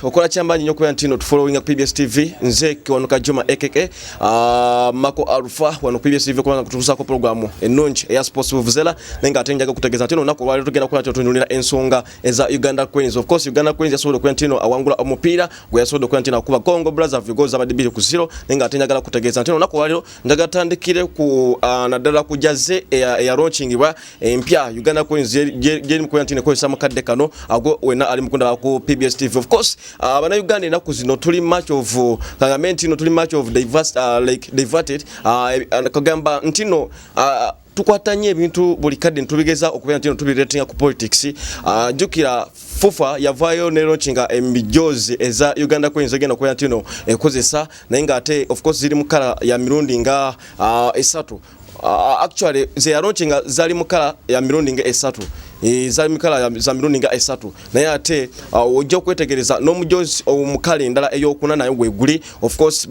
okola kyamaanyi nyo okubeera ntino tufollowinga ku pbs tv nze kiwanuka juma ekeke ah, mako alfa wano pbs tv kubanga kutuusako programu ennungi eya sports vuvuzela naye nga ate njaga kutegeeza ntino olunaku olwaliro tugenda kukola tutunulira ensonga eza uganda queens of course uganda queens yasobola okubeera ntino awangula omupiira gwe yasobola okubeera ntino akuba congo brother vigo zabadde biri ku zero naye nga ate njagala kutegeeza ntino olunaku olwaliro njaga tandikire ku ah, naddala kujaze eya, eya launchingibwa empya Uganda Coins gyeri mukoya nti nekozesa mukadde kano ago wena ali mukunda ku PBS TV of course uh, abana Uganda enaku zino tuli much of uh, kagame ntino tuli much of diverse, uh, like diverted uh, kagamba ntino uh, tukwata nnyo ebintu buli kadde ntubigeza okubeera nti no tubiretinga ku politics uh, jukira fufa yavaayo ne launchinga emijoozi eza uganda coins egenda okubeera nti no ekozesa naye nga ate of course ziri mu kala ya mirundi nga uh, esatu Uh, actually nze yalonki nga zali mukala ya mirundi nga esatu e, zali mukala za mirundi nga esatu naye ate uh, ojja okwetegereza n'omujozi omukala endala eyokuna naye weguli of course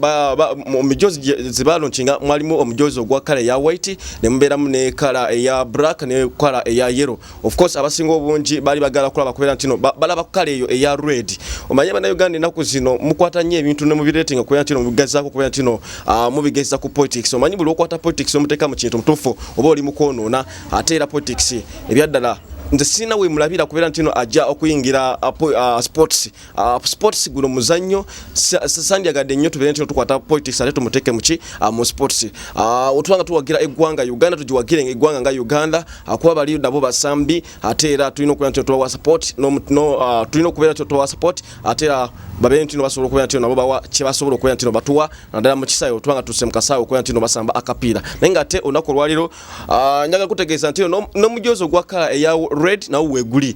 omujozi zebalonki nga mwalimu omujozi ogwa kala eya white ne mubeeramu ne kala eya black ne kala eya yellow of course abasinga obungi bali bagala kulaba kubera ntino balaba kukala eyo eya red omanye bana uganda enaku zino mukwata nyo ebintu ne mubiretinga kubera ntino mubigezako kubera ntino uh, ah, mubigeza ku politics omanyi buli okwata politics omuteka mu kintu mutufu oba oli mukwonona ate era politics ebyaddala nze sirina wemulabira kubera ntino ajja okuyingira uh, uh, sports Uh, sports guno muzannyo sandyagadde nnyo tubeere ntino tukwata politics ate tumuteeke muki uh, mu sports uh, ah, otubanga tuwagira eggwanga uganda tugiwagire eggwanga nga uganda uh, kuba bali nabo basambi ate era tulina okubeera ntino tubawa support no, no, uh, tulina okubeera ntino tubawa support ate era babeere ntino basobola okubeera ntino nabo bawa kyebasobola okubeera ntino batuwa naddala mu kisaawe otubanga tuse mu kasaawe okubeera ntino basamba akapiira naye nga ate olunaku olwaliro uh, njagala kutegeeza ntino n'omujoozi no ogwa kala eya red nawo weguli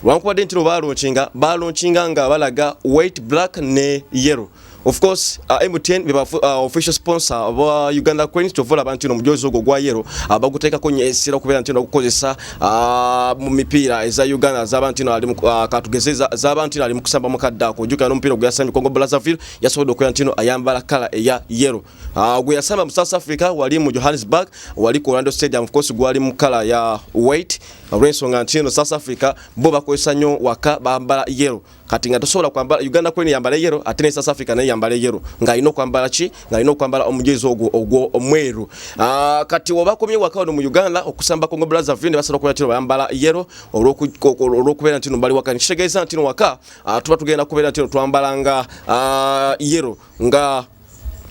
wankubadde ntino balunkinga balunkinga nga balaga white black ne yellow of course uh, MTN beba uh, official sponsor wa Uganda Cranes to vola bantino mujozo go gwa yero abaguteka uh, konye esira kubera ntino kukozesa uh, mu mipira eza Uganda za bantino ali uh, katugezeza za bantino ali mukusamba mukadda ko juka no mpira gwa Sami Kongo Brazzaville yasodo ko ntino ayambala kala ya yero uh, gwa Sami mu South Africa wali mu Johannesburg wali ko Orlando Stadium of course gwali mu kala ya white olw'ensonga nti eno south africa bo bakozesa nnyo waka bambala yero kati nga tosobola kwambala uganda kwene yambala yero ate ne south africa naye yambala yero ng'alina okwambala ki ng'alina okwambala omujezi ogwo ogwo omweru ah, kati oba komye waka wano mu uganda okusamba congo brazaville ne basobola okubeera tino bayambala yero olw'okubeera ntino bali waka nekitegeeza ntino waka ah, tuba tugenda kubeera ntino twambalanga ah, yero nga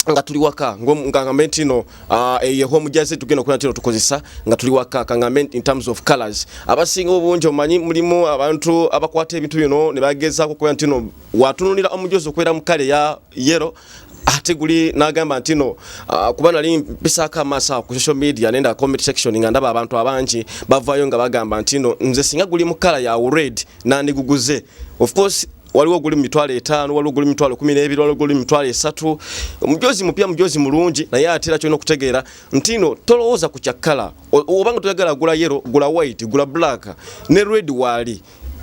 nga tuli waka nga ngambe nti no uh, eye home jaze tugenda okuna tino tukozesa nga tuli waka kangambe in terms of colors abasinga obunjo manyi mulimu abantu abakwata ebintu bino ne bageza kukoya nti no watunulira omujozo kwera mukale ya yero ate guli nagamba nti no uh, kuba nali mpisako amasa ku social media nenda comment section nga ndaba abantu abangi bavayo nga bagamba nti no nze singa guli mukala ya red nandiguguze of course waliwo guli mitwalo etaano waliwo guli mitwalo kumi n'ebiri waliwo guli mitwalo esatu omujozi mupya mujozi mulungi naye ate era kyolina okutegeera ntino tolowooza ku kyakkala obanga toyagala gula yero gula white gula black ne red waali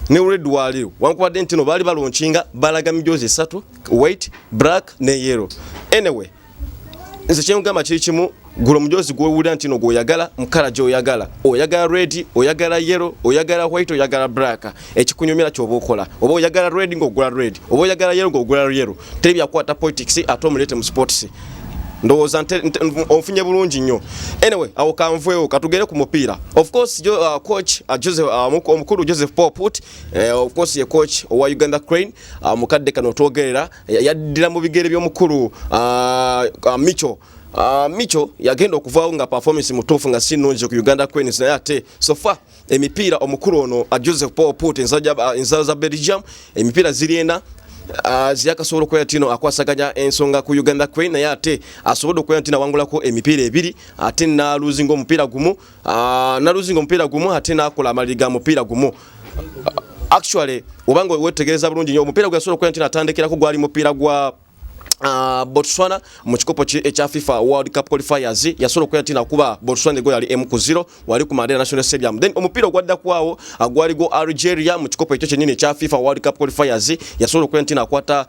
ne red waali wankubadde ntino baali balonkinga balaga mijozi esatu white black ne yero anyway nze kyengamba kiri kimu gula omujoozi gwewulira nti no gwoyagala mukala gyoyagala oyagala red oyagala yellow oyagala white oyagala black ekikunyumira kyoba okola oba oyagala red ngaogula red oba oyagala yellow ngaogula yellow teri byakwata politics ate omulete mu sports ndowooza onfunye bulungi nnyo anyway awo kanveewo katugere ku mupiira of course jo, uh, coach uh, joseph uh, omukulu joseph poput uh, eh, of course ye coach owa uganda crane uh, mukadde kano twogerera yaddira mu bigere by'omukulu uh, uh, micho uh, micho yagenda okuvaawo nga performance mutuufu nga si nnungi ku uganda queens naye ate sofa emipiira omukulu ono uh, joseph paul put uh, ensala za belgium emipiira ziri ena uh, ziyakasobola okubeera tino akwasaganya ensonga ku uganda queen naye ate asobodde okubeera nti nawangulako emipiira ebiri ate naluzinga omupiira gumu ah, naluzinga omupiira gumu ate nakola amaliri ga mupiira gumu ah, actually obanga wetegereza bulungi nyo omupiira gwe yasobola okuba nti natandikirako gwali mupiira gwa Uh, Botswana mu kikopo ekya FIFA World Cup qualifiers yasobola okuya tina kuba Botswana ego yali emu ku zero wali ku Mandela National Stadium then omupiira ogwadda kwawo agwali go Algeria mu kikopo ekyo kyennyini ekya FIFA World Cup qualifiers yasobola okuya nti nakwata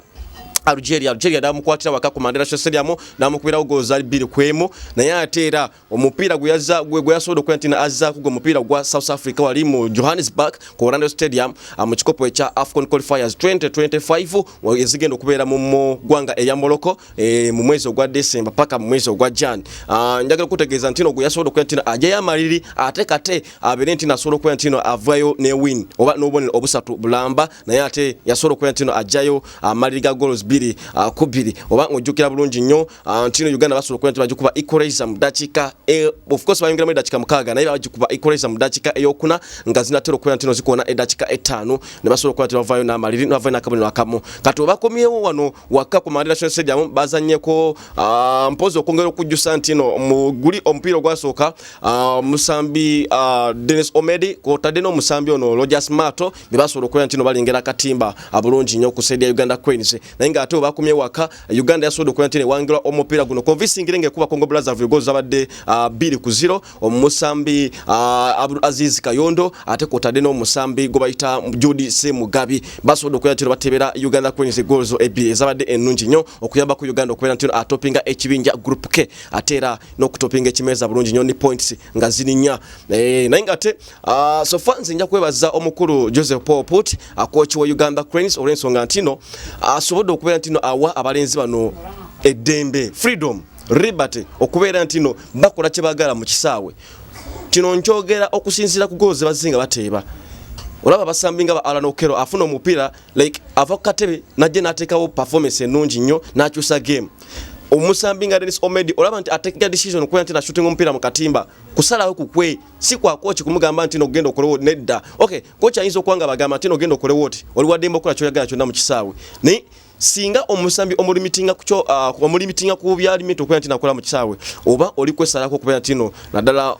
Algeria Algeria damukwatira waka ku Mandela Stadium namukubirawo gozaali bbiri kwemu naye ate era omupiira gwe yasobola okukola nti azzaako gwe mupiira gwa south africa wali mu johannesburg ku orlando stadium ah, mu kikopo ekya afcon qualifiers 2025 ezigenda okubeera mu ggwanga eya morocco eh, mu mwezi ogwa december paka mu mwezi ogwa jan ah, njagala okutegeeza nti no gwe yasobola okukola nti ajayo amaliri ate kate abeere nti nasobola okukola nti no avayo ne win oba n'obubonero obusatu bulamba naye ate yasobola okubeera ntino ajjayo ah, amaliri ga goals bbiri ah, ku bbiri oba ng'ojjukira bulungi nnyo ah, ntino uganda basobola okubeera nti bagikuba equalizer mu ddakiika e, of course bayongeramu eddakiika mukaaga naye bagikuba equalizer mu ddakiika eyokuna nga zinatera okubeera ntino zikoona eddakiika ettaano ne basobola okubeera nti bavaayo n'amaliri ne bavaayo n'akabonero akamu kati obakomyewo wano wakka ku mandela national stadium bazannyeko mpozi okwongera okujjusa ntino mu guli omupiira ogwasooka omusambi denis omedi kwotadde n'omusambi ono rogers mato ne basobola okubeera nti no balengera akatimba abulungi nnyo ku saidi ya uganda queens naye nga ate webakomye waka uganda yasobodde okubeera nti newangirwa omupiira guno convincingire nga ekuba congo brazaville gozi zabadde ah, bbiri ku ziro omusambi ah, abdul aziz kayondo ate kwotadde n'omusambi gwe bayita judi c mugabi basobodde okubeera nti no batebera uganda queens goals ebbiri ezabadde ennungi nnyo okuyambako uganda okubeera nti no atopinga ekibinja group k ate era n'okutopinga ekimeeza bulungi nnyo ni points nga zirinya eh, naye ngate uh, ah, sofa nze nja kwebaza omukulu joseph paul put akoki wa uganda cranes olwensonga ntino asobodde ah, uh, okubeera ntino awa abalenzi bano eddembe freedom liberty okubeera ntino bakola kyebagala mu kisaawe kino nkyogera okusinziira ku goozi bazinga bateeba olaba abasambi nga ba alan okero afuna omupiira like ava ku katebe najja n'ateekawo performance ennungi nnyo n'akyusa game omusambi nga Dennis Omedi olaba nti atekega decision okuba nti nashutinga omupiira mu katimba kusalawo kukwe si kwa kochi kumugamba nti nogenda okolewo nedda okay kochi ayinza okwanga bagamba nti nogenda okolewo oti oli wa dembo kola kyoyagala kyonna mu kisaawe naye singa omusambi omulimitinga kukyo uh, omulimitinga ku byalimi tokwera nti nakola mu kisaawe oba oli kwesalako okubeera ntino naddala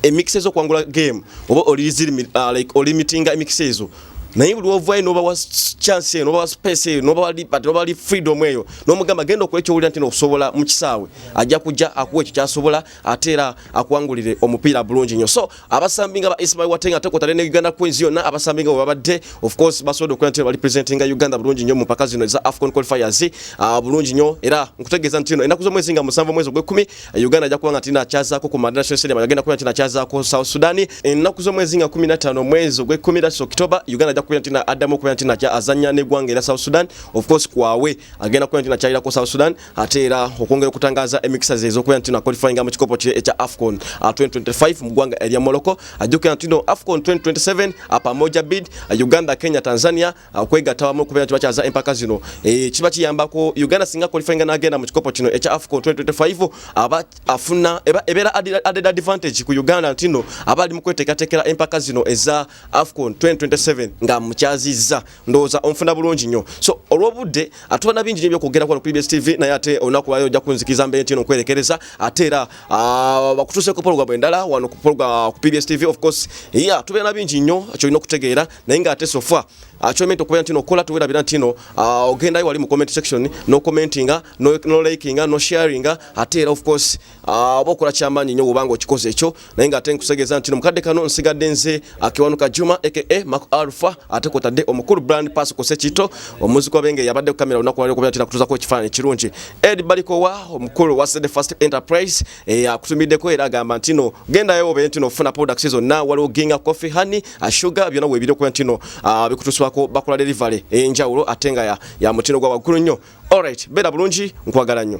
emikisa ezokuwangula game oba uh, olimitinga emikisa ezo naye buli ovayo nobawa chance eyo nobawa space eyo nobawa liberty nobawa freedom eyo nomugamba genda okola ekyowulira nti nokusobola mu kisaawe ajja kujja akuwa ekyo kyasobola ate era akuwangulire omupiira bulungi nnyo so abasambi nga ba ismail watenga ate kwotale ne uganda queens yonna abasambi nga webabadde of course basobodde okukola nti bali presentinga uganda bulungi nnyo mu mpaka zino eza afcon qualifiers uh, bulungi nnyo era nkutegeeza nti no enaku z'omwezi nga musanvu omwezi ogw'ekkumi Uganda ajja kuba nga tina kyazaako ku Mandela National Stadium agenda kubeera tina kyazaako South Sudan ennaku z'omwezi nga 15 omwezi ogw'ekkumi era October Uganda ajja kubeera tina addamu okubeera tina kya azannya n'eggwanga era South Sudan of course kwawe agenda kubeera tina kyayirako South Sudan ate era okwongera okutangaaza emikisa ze ez'okubeera tina qualifying mu kikopo kye ekya AFCON 2025 uh, mu ggwanga erya Morocco ajja okubeera tina AFCON 2027 apamoja bid uh, Uganda Kenya Tanzania okwegatta wamu okubeera nti bakyaza empaka zino eh, kiba kiyambako uganda singa qualifyinga n'agenda mu kikopo kino ekya afcon 2025 aba afuna ebeera added advantage ku uganda ntino aba ali mu kweteekateekera empaka zino eza afcon 2027 nga mukyazizza ndowooza onfuna bulungi nnyo so olw'obudde atubana bingi nyo byokwogerako wano ku bbs tv naye ate olunaku lwayo ojja kunzikiriza mbeera ntino okwerekereza ate era ah, bakutuuseeko pologamu endala wano ku bbs tv of course ya tubeera na bingi nnyo kyolina okutegeera naye nga ate sofa akyomenta ah, okubeera ntino okola tuwerabira ntino ah, ogendayo wali mu comment section no commentinga no likinga no sharinga ate era of course ah, oba okola kyamaanyi nnyo wobanga okikoze ekyo naye nga ate nkusegeeza ntino mukadde kano nsigadde nze akiwanuka juma aka mak alpha ate kwotadde omukulu brand pass ku sekito omuzi kwabenge yabadde ku kamera olunaku lwali okubeera tina kutuzako ekifaananyi kirungi ed balikowa omukulu wa the first enterprise Eh, akutumiddeko era agamba ntino gendayo obe ntino ofuna products zonna waliwo ginga coffee honey ah, sugar byona webiri okuba ntino ah, bikutuswako bakola delivery enjawulo eh, ate nga ya mutino gwa waggulu nnyo alright beera bulungi nkwagala nnyo